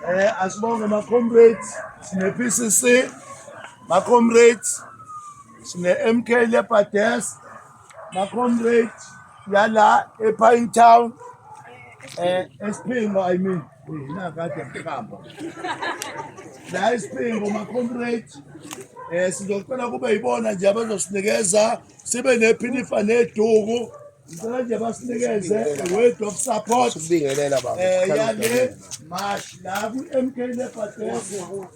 Eh asibonge ma comrades sine PCC ma comrades sine MK Leopards ma comrades yala ePine Town eh esiphingo i mean mina kade ngiqamba la isiphingo ma comrades eh sizocela kube yibona nje abazosinikeza sibe nephinifa neduku Ngicela nje basinikeze word of support ukubingelela baba eh yale march la ku MK Lepates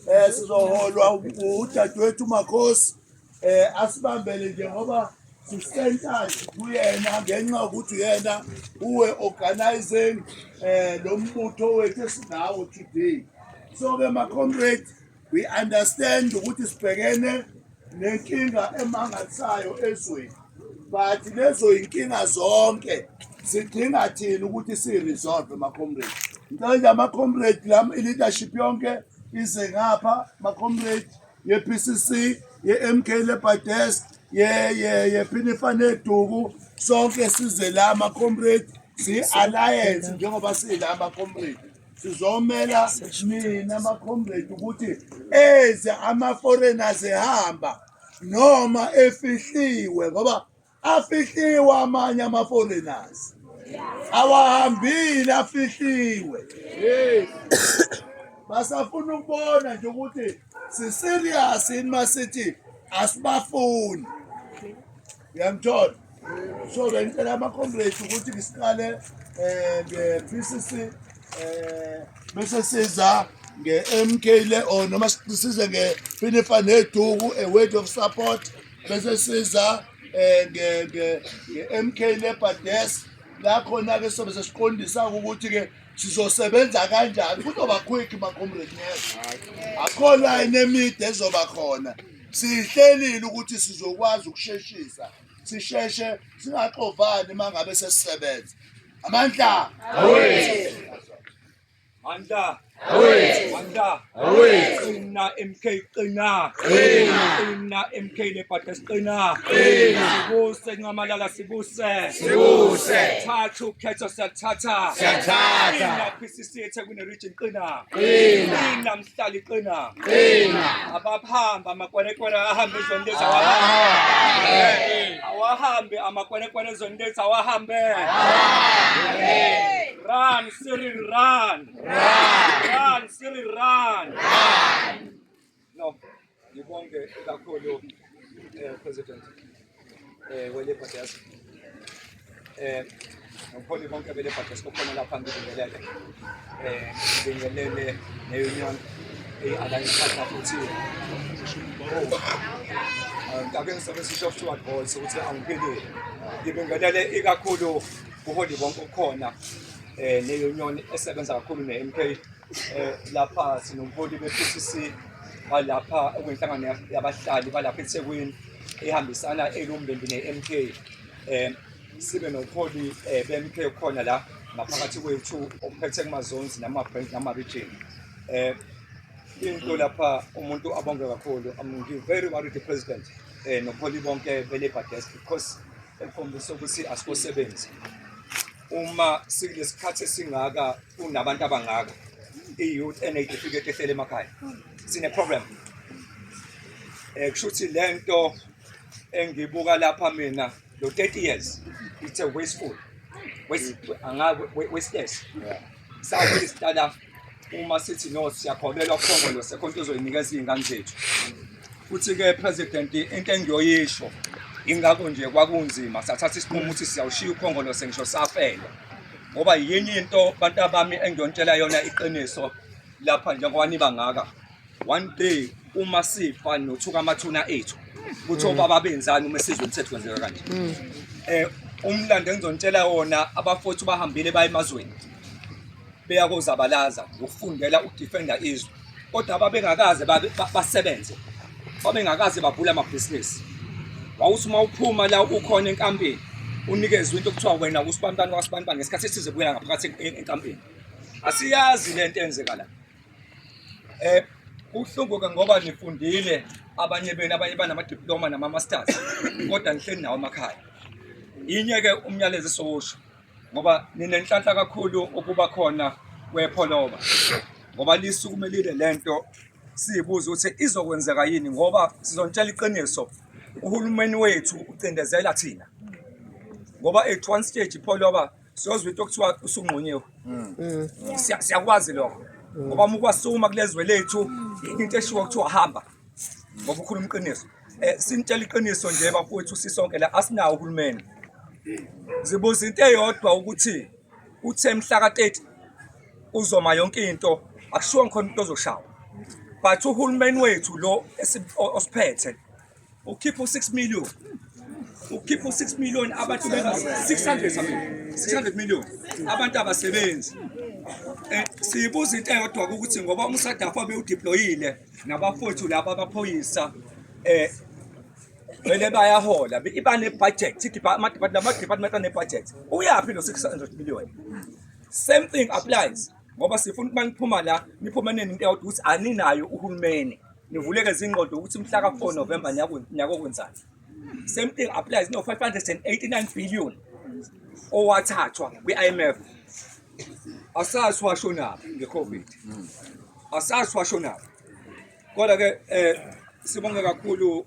eh sizoholwa udadewethu Makhosi eh asibambele nje ngoba sisental kuyena ngenxa ukuthi uyena uwe organizing eh lo mbutho wethu esinawo today so ke ma comrades We understand ukuthi sibhekene nenkinga emangalisayo ezweni but lezo yinkinga zonke sidinga thina ukuthi siyiresolve macomrade ngicela nje amacomrade lam i-leadership yonke ize ngapha macomrade ye-p c c ye-m k lebadesk yephinifaneduku sonke size la macomrade siyi-alliance njengoba siyila macomrade sizomela mina makhomredi ukuthi eze ama-foreigners ehamba noma efihliwe ngoba afihliwe amanye ama-foreigners awahambile afihliwe basafuna ukubona nje ukuthi siserious yini masithi asibafuni uyangithola so bengicela ama-comrades ukuthi ngisiqale um nge-p c c um eh, bese siza nge-m k le or noma size ngefinifa neduku a word of support bese siza um nge-m k le bades la khona-ke sobe sesiqondisa-ke ukuthi-ke sizosebenza kanjani kuzoba quick macomrade neza akho line emide ezoba khona siyihlelile ukuthi sizokwazi ukusheshisa sisheshe singaxovani uma ngabe sesisebenza amandla awethu mandla awethu mandla Qina MK qina. Qina. Qina MK lebhada siqina. Qina. Sibuse nqamalala sibuse. Sibuse. Thatha ukhetho siyathatha. Siyathatha. Qina PCC eThekwini region qina. Qina. Qina mhlali qina. Qina. Ababahamba amakwerekwere ahambe ezweni lezi awahambe. Awahambe amakwerekwere ezweni lezi awahambe. Run Cyril run. Run, Siri, run. No, ngibonge kakhulu eh president eh wele podcast. Eh nokuholi konke bele podcast okhona lapha ngibingelele. Eh ngibingelele ne-union eyi-alliance partner futhi ngake ngisabe sisho kuthiwa boys ukuthi angiphilile ngibingelele ikakhulu kuholi bonke okhona eh leyo nyoni esebenza kakhulu ne-MK eh lapha sinomholi be-PCC balapha okwenhlangano yabahlali balapha eThekwini ehambisana elumbembi ne-MK eh sibe noholi eh, be-MK khona la ngaphakathi kwethu ophethe kumazonzi nama-branch nama-region eh into lapha umuntu abonge kakhulu i'm very worried the president eh noholi bonke be-labour desk because ekhombisa ukuthi asikosebenzi uma sikulesikhathi esingaka kunabantu abangaka i-youth eneyitifiketi ehlele emakhaya sine-problem um kusho ukuthi le nto engibuka lapha mina lo 30 years it's a wasteful waste, yeah. Sabe isitalaf uma sithi no siyakholelwa kukhongolo sekho into ozoyinikeza izingane zethu. Futhi ke president into engiyoyisho ingakho nje kwakunzima sathatha isinqumo ukuthi siyawushiya ukhongolo sengisho safela. Ngoba yinye into bantu abami engiyontshela yona iqiniso lapha njengoba niba ngaka. one day uma sifa nothuka amathuna ethu kuthi obaba benzani uma sizwe umthetho kwenzeka kanje Mm. eh umlando engizontshela wona abafowethu bahambile baye emazweni beya kozabalaza ngokufundela ukudefenda izwe kodwa babengakaze babe- ba- basebenze babengakaze bavule amabhizinisi wawuthi uma uphuma la ukhona enkampini unikezwe into okuthiwa wena usibantwana wasibantwana ngesikhathi esize kuya ngaphakathi en- en- enkampini asiyazi le nto enzeka la Eh kuhlungu ke ngoba nifundile abanye benu abanye banama diploma nama masters kodwa nihleli nawo emakhaya. Inye ke umyalezo sowusho ngoba ninenhlanhla kakhulu ukuba khona kwepholoba ngoba lisukumelile lento siyibuza ukuthi izokwenzeka yini ngoba sizontshela iqiniso uhulumeni wethu ucindezela thina ngoba at one stage ipholoba siyozwa into okuthiwa usunqunyiwe mm. mm. siyakwazi lokho mm. ngoba uma ukwasuma kulezwe lethu into eshiwo kuthiwa hamba ngoba ukhuluma iqiniso um sinitshela iqiniso nje bafowethu sisonke la asinawo uhulumeni zibuza into eyodwa ukuthi uthe mhla ka-30 uzoma yonke into akushiwo ngikhona umuntu ozoshawa but uhulumeni wethu lo osiphethe ukhipha u6 million ukhipha u6 million abantu benga 600 amen 600 million abantu abasebenzi eh, siyibuza into eyodwa ukuthi ngoba umsadafa bewudeployile nabafowethu laba abaphoyisa eh vele bayahola iba ne-budget lama-department ane-budget uyaphi no-600 million same thing applies ngoba sifuna ukuba niphuma la niphuma neni into yawuthi ukuthi aninayo uhulumeni nivuleke zingqondo ukuthi mhla ka-4 november nyakokwenzani same thing applies no-589 billion owathathwa kwi-imf asazi washonaphi nge-covid asazi washonaphi kodwa-ke um sibonge kakhulu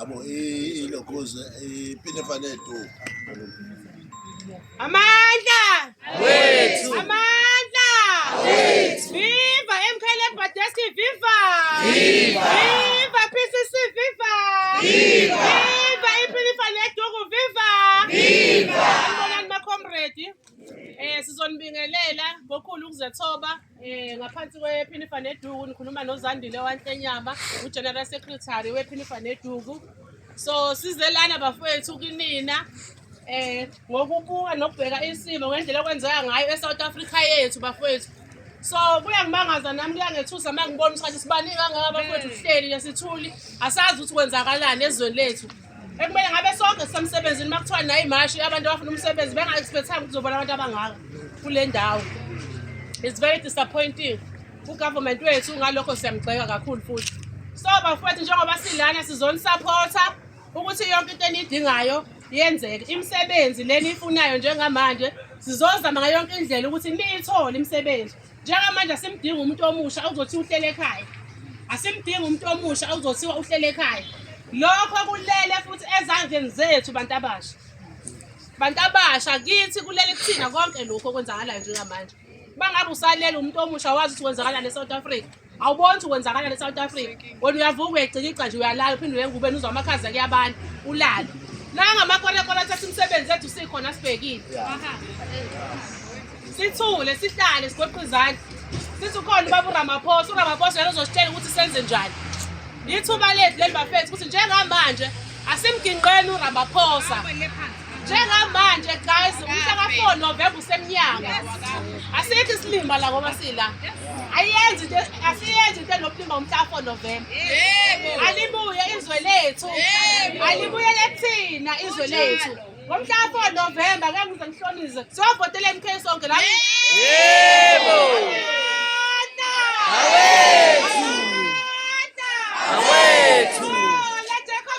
abo ilogoze ipine fane tu amandla wethu amandla wethu viva mklb desk viva viva viva pcc viva viva viva ipine fane tu viva viva mbonani ma comrade eh sizonibingelela ngokhulu ukuzethoba Eh ngaphansi kwePhinifa neDuku nikhuluma noZandile waNhlenyama uGeneral Secretary wePhinifa neDuku. So size lana bafowethu kunina eh ngokubuka nokubheka isimo ngendlela okwenzeka ngayo eSouth Africa yethu bafowethu so kuyangimangaza nami kuyangethusa uma ngibona ukuthi sibani kangaka bafowethu kuhleli nesithuli asazi ukuthi kwenzakalani ezweni lethu ekumele ngabe sonke sisemsebenzini uma kuthiwa nayo imashi abantu abafuna umsebenzi benga-expecthanga ukuthi uzobona abantu abangaka kule ndawo it's very disappointing ugovernment wethu ngalokho siyamgxeka kakhulu futhi so bafowethu njengoba silana sizonisaphotha ukuthi yonke into eniyidingayo yenzeke imisebenzi leniyifunayo njengamanje sizozama ngayo yonke indlela ukuthi niyithole imisebenzi njengamanje asimdingi umuntu omusha okuzothiwa uhlele ekhaya asimdingi umuntu omusha okuzothiwa uhlele ekhaya lokho kulele futhi ezandleni zethu bantu abasha bantu abasha kithi kulele kuthina konke lokhu okwenzakalayo njengamanje bangabe usalele umuntu omusha wazi ukuthi kwenzakalani e-south africa awuboni ukuthi kwenzakala ne-south africa wena uyavuka uyayicikica nje uyalala uphinde uyengube nuzwa amakhaza kuyabantu ulale nangamakorekore athatha imisebenzi ethu sikhona sibhekile sithule sihlale sigoqe izandla sithi ukhona ubaba uramaphosa uramaphosa yena uzositshela ukuthi senze njani yithuba lethu leli bafethu ukuthi njengamanje asimginqeni uramaphosa njengamanje guys umhla ka-four novemba usemnyango asithi isilima la ngoba sila ayenzi into asiyenzi into enobulima umhla ka-four novemba alibuye izwe lethu alibuyele thina izwe lethu ngomhla ka-four novemba ke ngize ngihlonize siyovotela mk sonke la yebo awethu awethu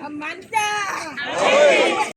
Amanda!